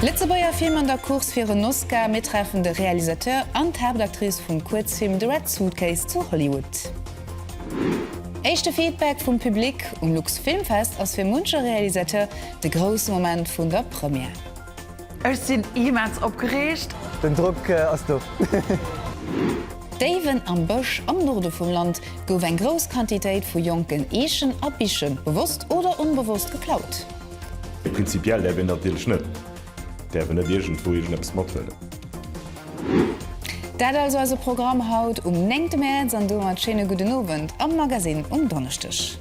Lëtzebuerger Film an der Course fir en Oscar, Mir treffen de Realisateur an d'Haaptactrice vum Kuerzfilm The Red Suitcase zu Hollywood. Éischte Feedback vum Public, Um Lux Filmfest ass fir munche Realisateur de grousse Moment vun der Première. Ech sinn immens opgereegt! Den Drock ass do! Déiwen am Bësch am Norde vum Land gouf eng grouss Quantitéit vu jonken Eechen a Biche bewosst oder onbewosst geklaut. Prinzipiell däerf een natierlech net, däerf een net iergendwou iergendeppes mathuelen. Dat also eise Programm haut um néngte Mäerz an domat schéine gudden Owend am Magasinn um Donneschdeg.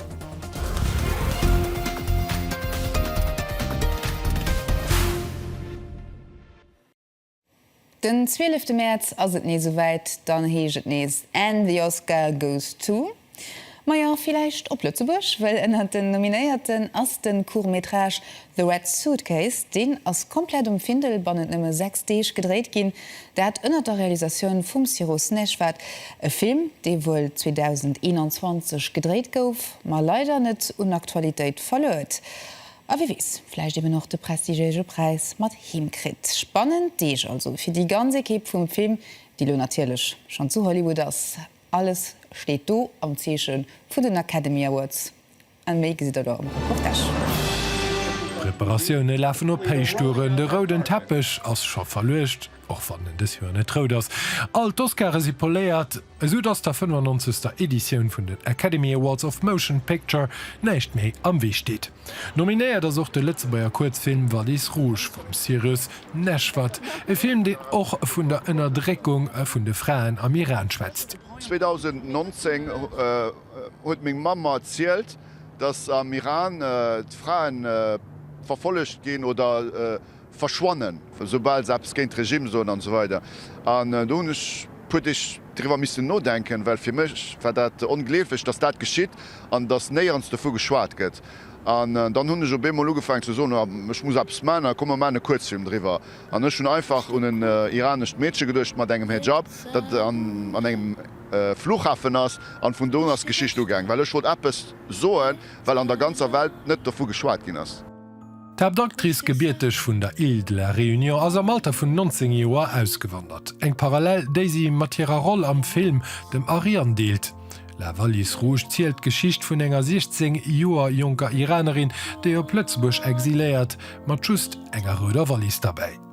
Den 12 Mäerz ass et nees esouwäit, dann heescht et nees And the Oscar goes to. Majo, villäicht op Lëtzebuerg, well ënnert den Nominéierten ass de Court-métrage The Red Suitcase. Deen ass komplett um Findel bannent nëmme 6 Deeg gedréit ginn, dat ënnert der Realisatioun vum Siro Snejvad. E Film, dee wuel 2021 gedréit gouf, ma leider net un Aktualitéit verluer huet. A wie weess, vläicht eben och de prestigiége Präis mat heem kritt. Spannend Deeg also fir déi ganz Ekipp vum Film, déi elo natierlech schonn zu Hollywood ass. Alles steet do am Zeeche vun den Academy Awards a méi gesitt der do am Reportage. D'Preparatioune lafen op Héichtouren, de rouden Teppech ass scho verluecht, och wann en dës Joer net rout ass. All d'Oscare si poléiert. Esou dass der 95. Editioun vun den Academy Awards of Motion Picture näischt méi am Wee steet. Nominéiert ass och de Lëtzebuerger Kuerzfilm Valise Rouge vum Cyrus Neshvad, e Film deen och vun der Ënnerdréckung vun de Fraen am Iran schwätzt. 2019 huet meng Mamm mer erzielt, dass am Iran d'Fraen verfollegt ginn oder. verschwannen, esoubal se eppes géint de Regime soen an esou weider. An do hunn ech e puer Deeg driwwer missen nodenken, well fir mech war dat ongleeflech, datt dat geschitt an datt néierens dovu geschwat gëtt. An dann hunn ech op eemol ugefaangen ze soen, ech muss eppes maachen a komm mer maachen e Kuerzfilm driwwer. An ech hunn einfach un en iranescht Meedche geduecht mat engem Hejab, dat an engem Fluchhafen ass. An vun do un ass d'Geschicht ugaang, well ech wollt eppes soen, well an der ganzer Welt net dovu geschwat ginn ass. D'Haaptactrice, gebierteg vun der Île de la Réunion, ass am Alter vun 19 Joer ausgewandert. Eng Parallel, déi si mat hirer Roll am Film dem Ariane deelt. La valise rouge zielt d'Geschicht vun enger 16 Joer jonker Iranerin, déi op Lëtzebuerg exiléiert, mat just enger rouder Wallis derbäi.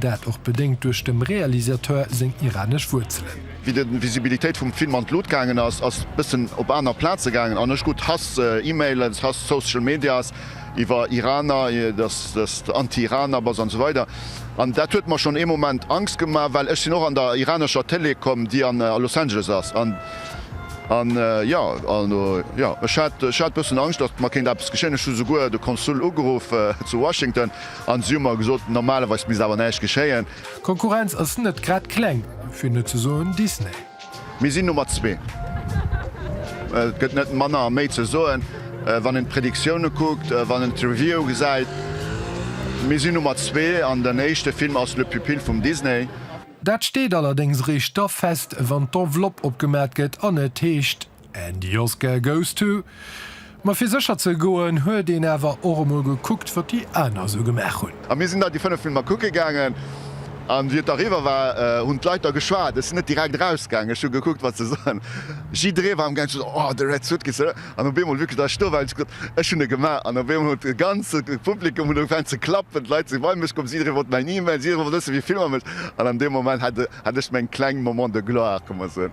Dat och bedéngt duerch dem Realisateur seng iranesch Wuerzelen. Wéi de Visibilitéit vum Film an d'Lut gaangen ass, ass bëssen op aner Plaze gaangen an ech krut Hass, Emailen, Hass, Social Medias iwwer Iraner, dass de Anti-Iraner bass an esou weider. An dat huet mer schonn ee Moment Angst gemaach, well ech sinn och an der iranescher Télé komm, déi a Los Angeles ass. An jo, also jo, ech hat, ech hat bëssen Angscht, datt mer kéint eppes geschéien. Ech hu souguer de Konsul ugeruff zu Washington. An si hu mer gesot, normalerweis misst awer näischt geschéien. D'Konkurrenz ass net grad kleng, fir net ze soen Disney. Mir sinn Nummer zwee. Et gëtt net manner a méi ze soen, wann een d'Predictiounen kuckt, wann een d'Reviewe gesäit. Mir sinn Nummer zwee an den éischte Film ass Le Pupille vum Disney. Dat steet allerdéngs eréischt da fest, wann d'Enveloppe opgemat gëtt an et heescht. And the Oscar goes to. Ma fir sécher ze goen, huet een awer och emol gekuckt, wat déi aner esou gemaach hunn. A mir sinn da déi fënnef Filmer kucke gaangen. A wéi et da eriwwer war, hunn d'Leit da geschwat. Ech sinn net direkt erausgaangen. Ech hu gekuckt, wat se soen. Jidderee war am gaangen ze soen, Oh, de Red Suitcase, oder? An op eemol, wierklech, da ech sto war, hunn ech gesot, Ech hunn e gemaach. An op eemol huet de ganze Publikum huet ugefaangen ze klappen. D'Leit si bei mech komm. Jidderee wollt mäin Email. Jidderee wollt wëssen, wéi vill mam ech. An an deem Moment hat ech meng kleng Moment de gloire, ka mer soen.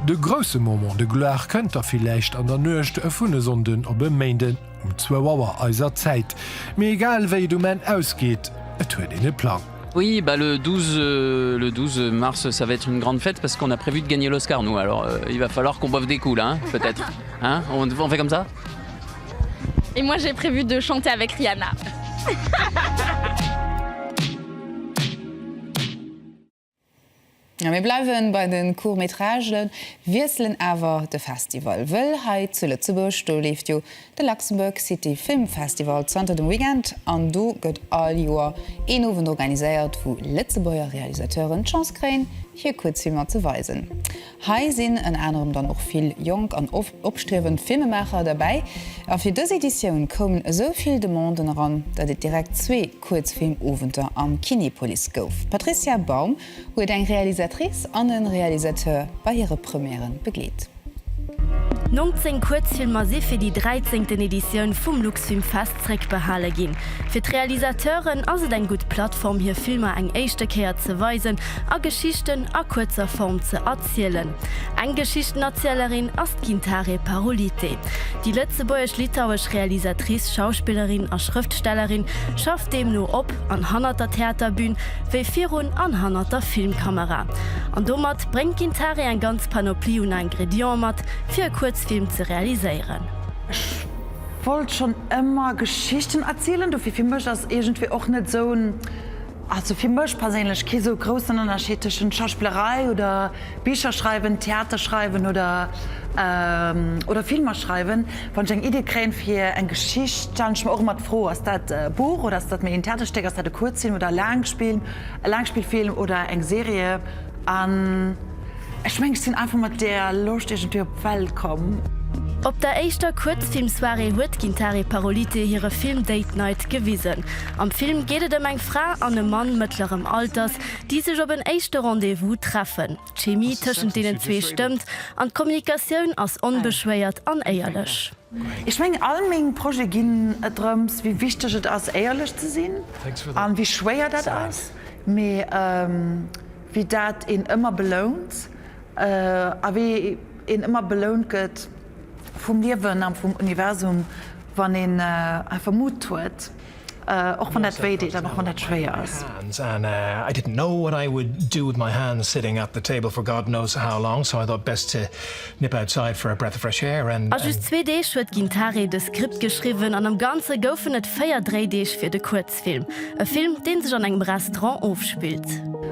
De grousse Moment de gloire kënnt da villäicht an der Nuecht vun e Sonnden op e Méinden um zwou Auer eiser Zäit. Mee egal wéi et um Enn ausgeet, et huet een e Plang. Oui bah le 12 le 12 mars ça va être une grande fête parce qu'on a prévu de gagner l'Oscar nous alors il va falloir qu'on boive des coups là hein peut être hein on on fait comme ça. Et moi j'ai prévu de chanter avec Rihanna. Mir bleiwen bei de Court-métragen, wiesselen awer de Festival, wëll hei zu Lëtzebuerg, do leeft jo de Luxembourg City Film Festival zanter dem Weekend an do gëtt all Joer een Owend organiséiert, wou Lëtzebuerger Realisateuren d'Chance kréien, hir Kuerzfilmer ze weisen. Hei sinn ënner anerem dann och vill jonk an oft opstriewend Filmemaacher derbäi. A fir dës Editioun koumen esou vill Demanden eran, datt et direkt zwee Kuerzfilmowenter am Kinepolis gouf. D'Patricia Baum huet eng Realisatrice an e Realisateur bei hire Première begleet. 19 Kuerzfilmer si fir déi dräizéngten Editioun vum Luxfilmfest zréckbehale ginn. Fir d'Realisateuren ass et eng gutt Plattform hir Filmer eng éischte Kéier ze weisen a Geschichten a kuerzer Form ze erzielen. Eng Geschichtenerzielerin ass d'Gintare Parolite. Déi lëtzebuergesch-litauesch Realisatrice, Schauspillerin a Schrëftstellerin schafft deemno op an hannert der Theaterbün, wéi virun an hannert der Filmkamera. An domat bréngt d'Gintare eng ganz Panoplie un Ingredienten mat, fir e Kuerzfilm ze realiséieren. Wollt schon emmer Geschichten erzielen, dofir fir mech ass iergendwéi och net esou en, also fir mech perséinlech kee sou groussen Ënnerscheed tëschent Schauspillerei oder Bicher schreiwen, Theater schreiwen oder oder Filmer schreiwen. Wann ech eng Idee kréien fir eng Geschicht, stellen ech mer och emmer d'Fro, ass dat e Buch oder ass dat méi en Theaterstéck, ass dat e Kuerzfilm oder e Laangspill, e Laangspillfilm oder eng Serie an, Ech mengen ech sinn einfach mat deer Loscht iergendwéi op d'Welt komm. Op der éischter Kuerzfilmsoirée huet d'Gintare Parolite hire Film Date Night gewisen. Am Film geet et ëm eng Fra an e Mann mëttlerem Alters, déi sech op en éischte Rendez-vous treffen. D'Chemie tëschent deenen zwee stëmmt an d'Kommunikatioun ass onbeschwéiert an éierlech. Ech mengen all meng Projete ginn et drëms, wéi wichteg et ass éierlech ze sinn a wéi schwéier dat ass, mee wéi dat een ëmmer belount a wéi een ëmmer belount gëtt vum Liewen a vum Universum, wann een einfach Mut huet, och wann dat wéi deet an och wann dat schwéier ass. A just zwee Deeg huet d'Gintare dës Skript geschriwwen an am Ganze goufen et véier Dréideeg fir de Kuerzfilm. Testfilm, e Film deen sech an engem Restaurant ofspillt.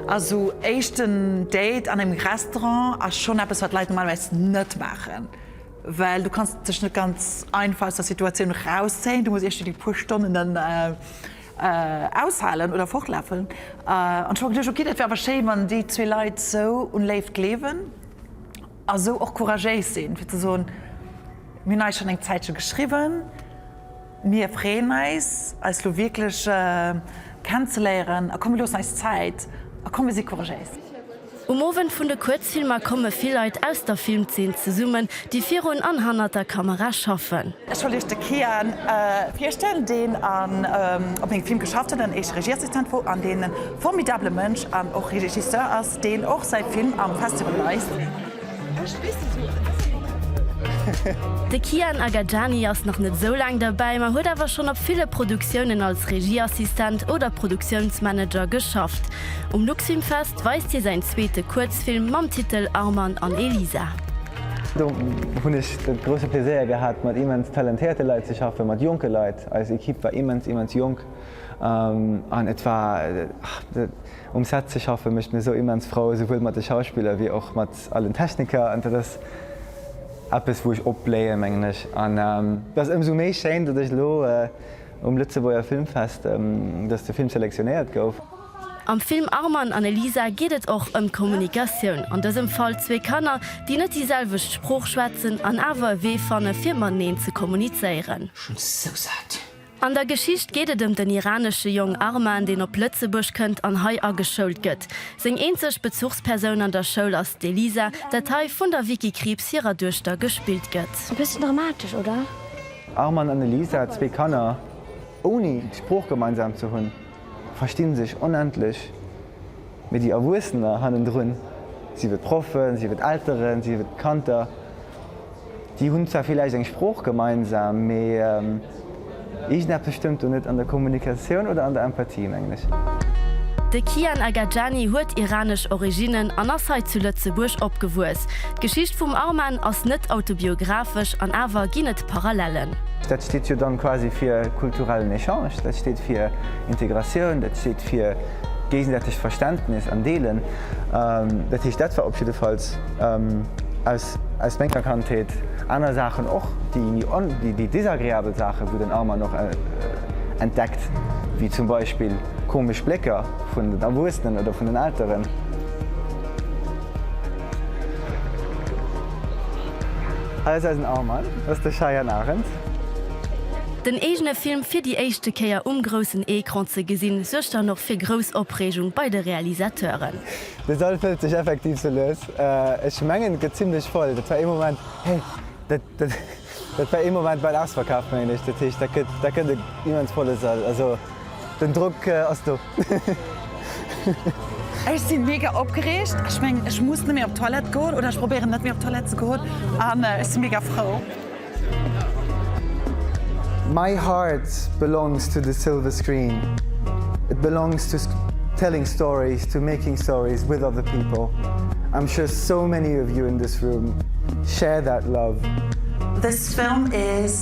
Also éischten Date an engem Restaurant ass schonn eppes wat Leit normalerweis net maachen, well du kanns dech net ganz einfach aus der Situatioun rauszéien, du muss iech déi puer Stonnen dann aushalen oder fortlafen. An ech hu mer geduecht, ok, dat wär awer schéi wann déi zwee Leit esou un Léift gleewen a sou och couragéis sinn fir ze soen, mir hunn eis schonn eng Zäitche geschriwwen. Mir freeën eis, eis lo wierklech kennenzeléieren a komm mir loossen eis Zäit a komm mir si couragéis. Um Owend vun de Kuerzfilmer komme vill Leit aus der Filmzeen zesummen, déi virun an hannert der Kamera schaffen. Ech wollt Iech de Kian virstellen, deen op mengem Film geschafft huet, en éischte Regieassistent wor an deen e formidabele Mënsch an och Regisseur ass, deen och säi Film am Festival weist. De Kian Agajani ass nach net esou laang derbäi, ma huet awer schonn op ville Produktiounen als Regieassistent oder Produktiounsmanager geschafft. Um Luxfilmfest weist hie säin zweete Kuerzfilm mam Titel Arman an Elisa. Do hunn ech de grousse Pleséier gehat, mat immens talentéierte Leit ze schaffen, mat jonke Leit. Eis Ekipp war immens, immens jonk an et war. Um Set ze schaffe mécht mir sou immens frou, souwuel mat de Schauspiller wéi och mat allen Techniker. An dat ass eppes, wou ech opbléien, mengen ech. An et ass ëmsou méi schéin, datt ech elo um Lëtzebuerger Filmfest, datt de Film selektionéiert gouf. Am Film Arman an Elisa geet et och ëm d'Kommunikatioun, an dësem Fall zwee Kanner, déi net déi selwecht Sprooch schwätzen an awer e Wee fanne fir mateneen ze kommunizéieren. Schon sou saat. An der Geschicht geet et ëm den iranesche Jong Arman, deen op Lëtzebuerg kënnt an hei ageschoult gëtt. Seng eenzeg Bezuchspersoun an der Schoul ass d'Elisa, dat hei vun der Vicky Krieps hirer Duechter gespillt gëtt. E bëssen dramatesch, oder? Arman an Elisa, zwee Kanner ouni d'Sprooch gemeinsam ze hunn. versti sech onendlech, mee déi Erwuessener hannendrun, sief et Proffen, sief et Elteren, sief et Kanter, déi hunn zwar villäicht eng Sprooch gemeinsam, mee iergendeppes stëmmt do net an der Kommunikatioun oder an der Empathie, mengen ech. De Kian Agajani huet iranesch Originnen an ass hei zu Lëtzebuerg opgewuess. D'Geschicht vum Arman ass net autobiographesch an awer ginn et. Parallellen. Dat steet jo dann quasi fir kulturellen Echange, dat steet fir Integratioun, dat steet fir géisensätegt Verständnis an Deelen. Dat heescht, dat war op jiddefalls aus menger Kandheet, aner Saachen och, déi desagreabel Saachen, wou den Arman och entdeckt, wéi zum Beispill komesch Blécker vun den Erwuessenen oder vun den Elteren. Hei ass eisen Arman, dat ass de Cheyenne Arendt. Den eegene Film fir déi éischte Kéier um groussen Ecran ze gesinn, suergt dann och fir grouss Opreegung bei de Realisateuren. De Sall fëllt sech effektiv sou lues. Ech mengen, et gëtt zimlech voll. Dat war ee Moment, hey, dat war ee Moment bal ausverkaaft, mengen ech. Dat heescht, dat gëtt e immens volle Sall. Also den Drock ass do. Ech sinn mega opgereegt. Ech mengen ech muss net méi op d'Toilette goen oder ech probéieren net méi op d'Toilette ze goen an ech sinn mega frou. My heart belongs to the silver screen, it belongs to telling stories, to making stories with other people, I'm sure so many of you in this room share that love. This film is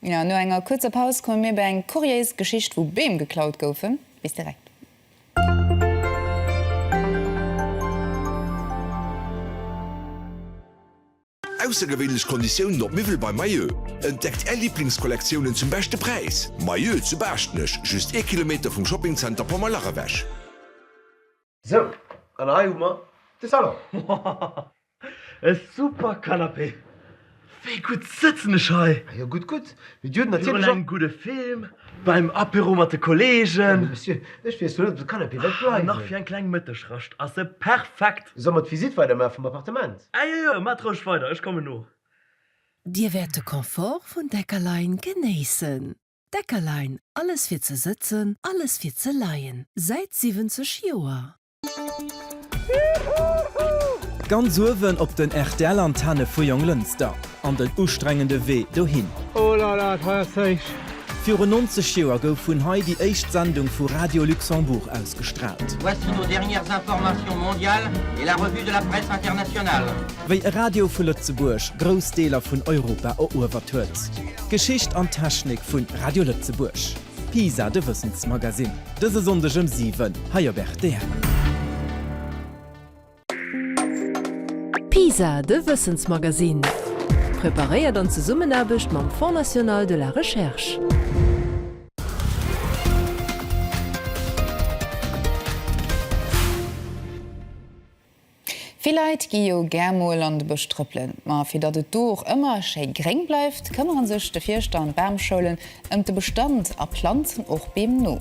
Ja, no enger kuerzer Paus komme mir bei eng kuriéis Geschicht, wou Beem geklaut goufen. Bis direkt. Aussergewéinlech Konditiounen op Miwwel bei Mayeux? Entdeckt Är Liblingskollektiounen zum beschte Präis! Mayeux zu Baaschtnech, just ee Kilometer vum Shoppingzenter Pommerlach ewech. Sou, an hei hu mer de Salon. Woohh! E super Canapé! Wéi gutt sëtzen ech hei! Ah jo, gutt, gutt. Mee Dir hutt natierlech och. Virun engem gudde Film, beim Apéro mat de Kolleegen. Mee Monsieur, ech weess jo net, ob de Canapé wäert bleiwen. An nach fir eng kleng Mëttegrascht ass e perfekt. Solle mer d'Visitt weidermaache vum Appartement? Ah jo, jo, maacht roueg weider, ech kommen no. Dir wäert de Confort vun Deckerlein genéissen. Deckerlein, Alles fir ze sëtzen, alles fir ze leien, säit 70 Joer. Ganz uewen op den rtl Antenne vu Jonglënster an den ustrengende Wee dohin. Oh la la, et war jo séiss! Virun 90 Joer gouf vun hei déi éischt Sendung vu Radio Luxembourg ausgestraalt. Voici nos dernières informations mondiales et la revue de la presse internationale. Wéi e Radio vu Lëtzebuerg grouss Deeler vun Europa eruewert huet. Geschicht an Technik vu Radio Lëtzebuerg, PISA, de Wëssensmagasinn, dëse Sonndeg ëm 7 hei op rtl. PISA, de Wëssensmagasinn, preparéiert an Zesummenaarbecht mam Fonds National de la Recherche. Vill Leit gi jo gär mol an de Bësch trëppelen, ma fir datt et do och ëmmer schéi gréng bleift, këmmere sech de Fierschter an d'Bamschoulen ëm de Bestand a planzen och Beem no.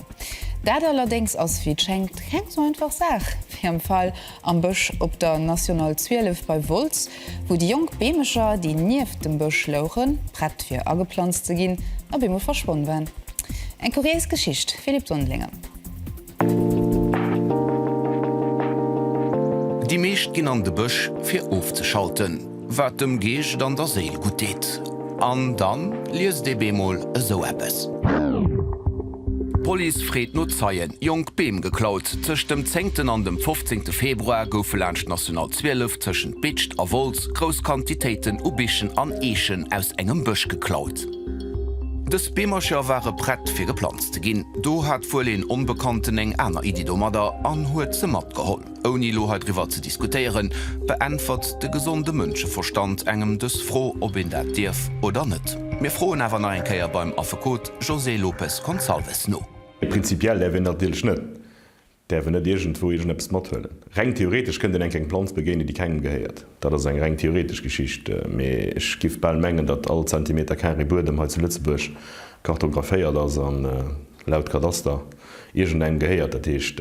Dat allerdéngs ass, wéi et schéngt, keng sou einfach Saach wéi am Fall am Bësch op der National 12 bei Wolz, wou déi jonk Beemecher, déi nieft dem Bësch louchen, prett fir ageplanzt ze ginn, op eemol verschwonn waren. Eng kuriéis Geschicht, Philippe Sondlinger. Déi meescht ginn an de Bësch fir ofzeschalten, wat dem Geescht an der Séil gutt deet. An dann liest ee bemol esou eppes. D'Police freet no Zeien, jonk Beem geklaut. Tëscht dem zéngten an dem fofzéngte Februar goufe laanscht d'National 12 tëschent Bitscht a Wolz grouss Quantitéiten u Bichen an Eechen aus engem Bësch geklaut. Dës Beemercher ware prett fir geplanzt. ze ginn. Do hat wuel een Onbekannten eng aner Iddi domadder an huet se matgeholl. Ouni elo heidriwwer ze diskutéieren, beäntwert de gesonde Mënscheverstand engem dës Fro, ob een dat dierf oder net. Mir froen awer nach eng Kéier beim Affekot José Lopes Gonçalves no. Prinzipiell däerf een dat natierlech net. Däerf en net iergendwou iergendeppes mathuelen? Reng theoretesch kënnt een enk eng Planz begéinen, déi kengem gehéiert. Dat ass eng reng theoretesch Geschicht, mee ech giff bal mengen, datt all Zentimeter carré Buedem hei zu Lëtzebuerg kartographéiert ass an, laut Kadaster, iergendengem gehéiert. Dat heescht,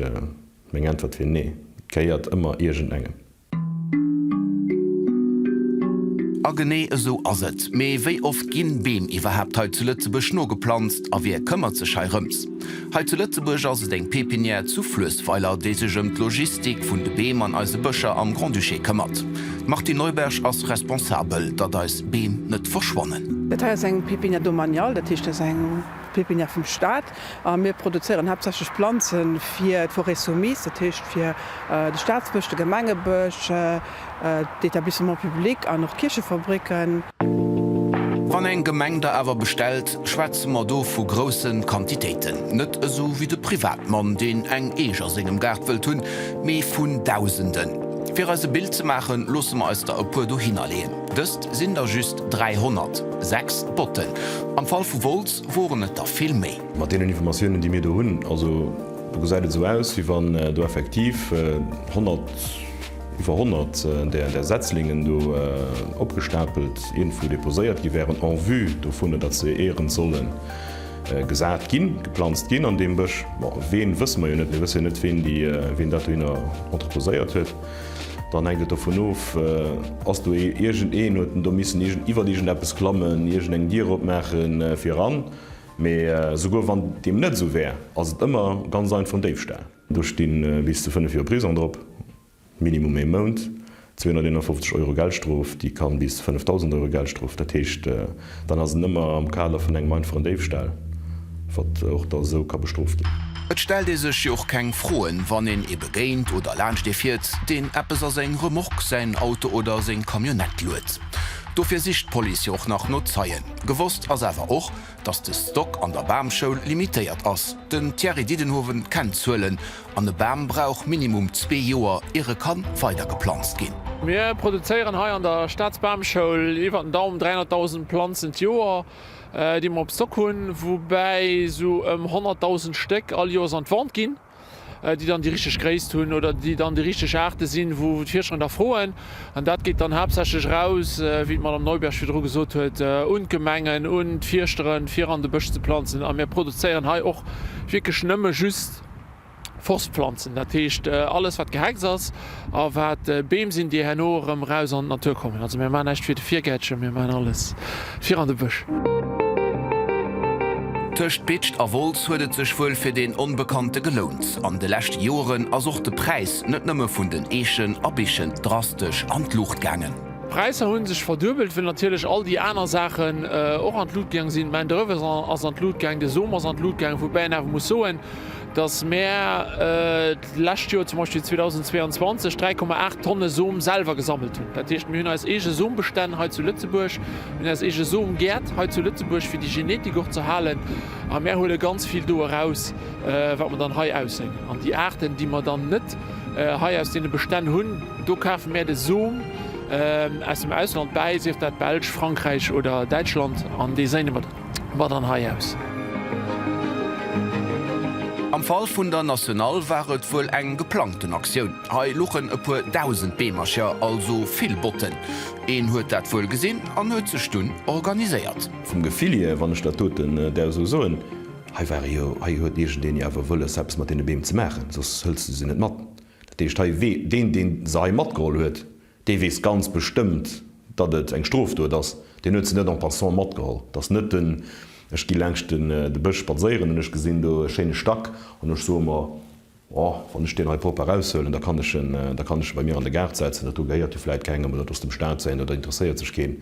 meng Äntwert wier nee, et gehéiert ëmmer iergendengem. A genee esou ass et. Mee wéi oft ginn Beem iwwerhaapt hei zu Lëtzebuerg nogeplanzt? A wie këmmert sech hei rëms? Hei zu Lëtzebuerg ass et eng Pépinière zu Fluessweiler, déi sech ëm d'Logistik vun de Beem an eise Bëscher am Grand-Duché këmmert. D'Martine Neuberg ass responsabel, datt eis Beem net verschwannen. Dat hei ass eng Pépinière domaniale, dat heescht, dat ass eng Pépinière vum Staat. A mir produzéieren haaptsächlech Planze fir d'Forêts soumises, dat heescht fir de Staatsbësch, de Gemengebësch, d'Etablissements publics an och d'Kierchefabricken. Wann eng Gemeng da awer bestellt, schwätze mer do vu grousse Quantitéiten. Net esou wéi de Privatmann, deen eng Eech a sengem Gaart wëllt hunn, mee vun Dausenden. Fir eis e Bild ze maachen, loosse mer eis der e puer dohinner leeën. Dëst sinn der just 300, sechs Botten am Fall vu Wolz. Woren et der vill méi? Mat deenen Informatiounen, déi mir do hunn, also do gesäit et esou aus, wéi wann do effektiv 100, iwwer 100 där Setzlingen do opgestapelt iergendwou deposéiert gi wären en vue dovun, datt se éierens solle gesat ginn, geplanzt ginn an deem Bësch. Bon, ween, wësse mer jo net. Mir wësse jo net, ween dat dohinner entreposéiert huet. Dann hänkt et dovun of, ass do ee, iergend een huet en do missen iergend, iwwert iergend eppes klammen, iergend eng Dier opmaachen fir eran. Mee esouguer wann deem net esou wär, ass et ëmmer ganz einfach en Déifstâl. Do sti bis zu 5 Joer Prisong drop, Minimum ee Mount, 251 Euro Geldstrof, déi kann bis 5.000 Euro Geldstrof, dat heescht, Dann ass en ëmmer am Kader vun engem einfachen Déifstahll, wat och da esou ka bestrooft ginn. Et stellt ee sech jo och keng Froen, wann een ee begéint oder laanscht ee fiert, deen eppes a seng Remorque, säin Auto oder seng Camionnette luet. Dofir sicht d'Police jo och nach no Zeien. Gewosst ass awer och, dass de Stock an der Bamschoul limitéiert ass. Den Thierry Didenhoven kennt d'Zuelen An e Bam brauch minimum zwee Joer, ier e kann weider geplanzt ginn. Mir produzéieren hei an der Staatsbamschoul iwwer den Daum 300.000 Planzen d'Joer, déi mer op Stock hunn, woubäi esou ëm 100.000 Stéck all Joers an d'Vente ginn, déi dann déi richteg Gréisst hunn oder déi dann déi richteg Aarte sinn, wou d'Fierscher nach froen. An dat geet dann haaptsächlech eraus, wéi d'Madame Neuberg virdru gesot huet, un d'Gemengen, un d'Fierschteren, fir an de Bësch ze planzen. A mir produzéieren hei och wierklech nëmme just. Forstpflanzen, dat heescht alles wat Gehex ass a wat Beem sinn, déi herno erëm eraus an d'Natur kommen. Also mir maachen näischt fir de Virgäertchen, mir maachen alles fir an de Bësch. Tëscht Bitscht a Wolz huet et sech wuel fir deen Onbekannte gelount. An de leschte Joren ass och de Präis net nëmme vun den Eechen a Bichen drastesch an d'Luucht gaangen. D'Präisser hunn sech verduebelt, well natierlech all déi aner Saachen och an d'Lut gaang sinn. D'Main d'oeuvre ass an d'Lut gaang, de Som ass an d'Lut gaang, woubäi een awer muss soen, dass mär d'lescht Joer, zum Beispill 2022, 3,8 Tonne Som selwer gesammelt hunn. Dat heescht, mir hunn eis eege Sombestänn hei zu Lëtzebuerg, mir hunn eis eege Somgäert hei zu Lëtzebuerg, fir déi Genetik och ze halen, a mär huele ganz vill do eraus, wat mer dann hei ausséien. An déi Aarten, déi mer dann net hei aus deene Bestänn hunn, Do kafe mär de Som aus dem Ausland bäi, sief dat Belsch, Frankräich oder Däitschland, an dee séine mer mat an hei aus. Am Fall vun der Nationale war et wuel eng geplangten Aktioun. Hei luchen e puer dausend Beemercher, also vill Botten. Een huet dat wuel gesinn an huet sech dunn organiséiert. Vum Gefill hier, wann ech dat doten der esou soen, hei ware jo, hei huet iergendeen jo awer wëlles, eppes mat deene Beem ze maachen, soss hëls de se net mat. Dat heescht hei, wee deen, deen se hei matgeholl huet, dee weess ganz bestëmmt, datt et eng Strofdot ass. Deen huet se net en passant matgeholl. Dat ass net den, ech gi laanscht den, de Bësch spadséieren an ech gesinn do e schéine Stack an ech soe mer, Oh, wann ech deen hei propper eraushuelen, da kann ech en, da kann ech e bei mir an de Gaart setzen, dat do gehéiert jo vläit kengem oder et ass dem Staat säin oder interesséiert sech keen.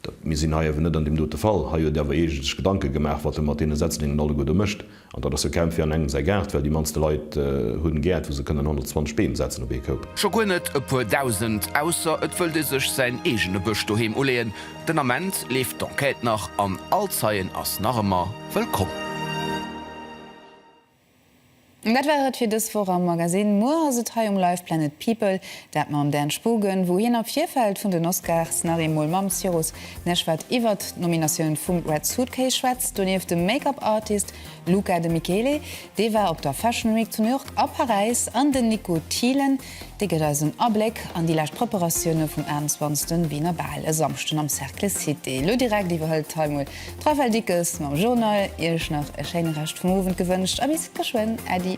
Dat, mir sinn hei awer net an deem dote Fall. Hei huet awer ee sech Gedanke gemaach, wat e mat deene Setzlingen alleguerte mécht. An dat ass jo kaum fir an engem säi Gaart, well déi mannste Leit hunn Gäert, wou se kënnen 120 Beem setzen op ee Koup. Scho guer net e puer Dausend, ausser et wëllt ee sech säin eegene Bësch doheem uleeën. Den Ament leeft d'Enquête nach an all Zeien ass nach ëmmer wëllkomm. Dat war et fir dës Woch am Magasinn. Muer ass et hei um Live! Planet People dat mam Dan Spogen, wou hien am Virfeld vun den Oscars nach eemol mam Cyrus Neshvad iwwert d'Nominatioun vum Red Suitcase schwätzt. Donieft de Make-up Artist Luca de Michele, dee war op der Fashion Week zu New York a Paräis, an den Nico Thielen, Dee gëtt eis en Abléck an déi lescht Preparatioune vum 21. Wiener Bal e Samschden am Cercle Cité. Elo direkt iwwerhëlt hei mol d'Raphaëlle Dickes mam Journal. Iech nach e schéine Rescht vum Owend gewënscht a bis geschwënn. Äddi.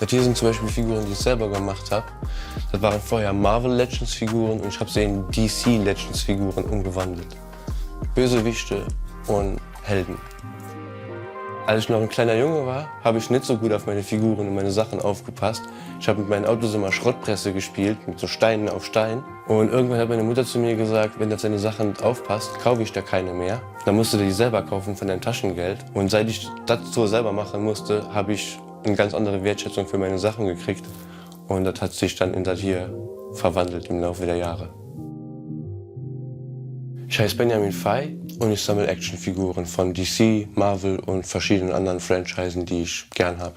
Dat hier sen zum Beispill Figuren déi ech selwer gemacht hab. Dat waren vorher Marvel Legends Figuren und ech hab se in DC Legends Figuren umgewandelt. Bösewichte und Helden. Als ich noch ein kleiner Junge war, hab ich net sou gut auf meine Figuren und meine Sachen aufgepasst. Ich hab mit meinen Autos immer Schrottpresse gespielt, mit sou Steinen auf Stein. Und irgendwann hat meine Mutter zu mir gesagt, wenn du auf deine Sachen net aufpasst, kaufe ich der keine mehr. Dann musst du dir die selber kaufen von deinem Taschengeld. Und seit ich dat sou selber machen musste, hab ich. Eng ganz andere Wertschätzung für meine Sachen gekriegt und dat hat sich dann in dat hier verwandelt im Laufe der Jahre. Ich heiss Benjamin Fay und ich sammel Actionfiguren von DC, Marvel und verschiedenen anderen Franchisen die ich gern hab.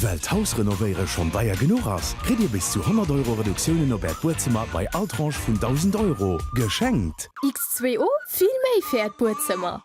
Well d'Hausrenovéiere schonn deier genuch ass, kritt Dir bis zu 100 Euro Reduktiounen op Äert Buedzëmmer bei all Tranche vun 1.000 Euro geschenkt. X2O, vill méi fir Äert Buedzëmmer!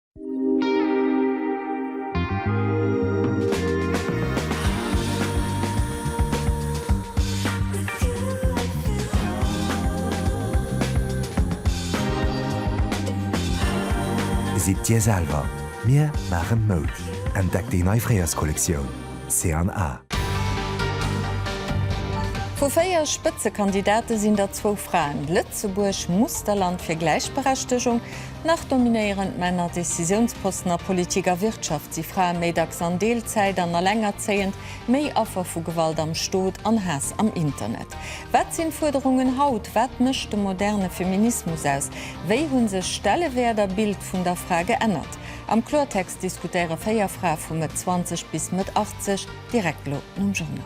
Sidd Dir selwer, mir maachen Moud! Entdeckt déi nei Fréierskollektioun C&A. Vu véier Spëtzekandidate sinn der zwou Fraen. Lëtzebuerg muss der Land fir Gläichberechtegung. Nach dominéieren d'Männer Decisiounsposten a Politik a Wirtschaft, si Frae méi dacks an Deelzäit an elengerzéiend, méi Affer vu Gewalt am Stot an Haass am Internet. Wat sinn d'Fuerderungen haut? Wat mécht de moderne Feminismus aus? Wéi hu sech Stellewäert a Bild vun der Fra geännert? Am Kloertext diskutéiere véier Frae vu Mëtt 20 bis Mëtt 80, direkt elo nom Journal.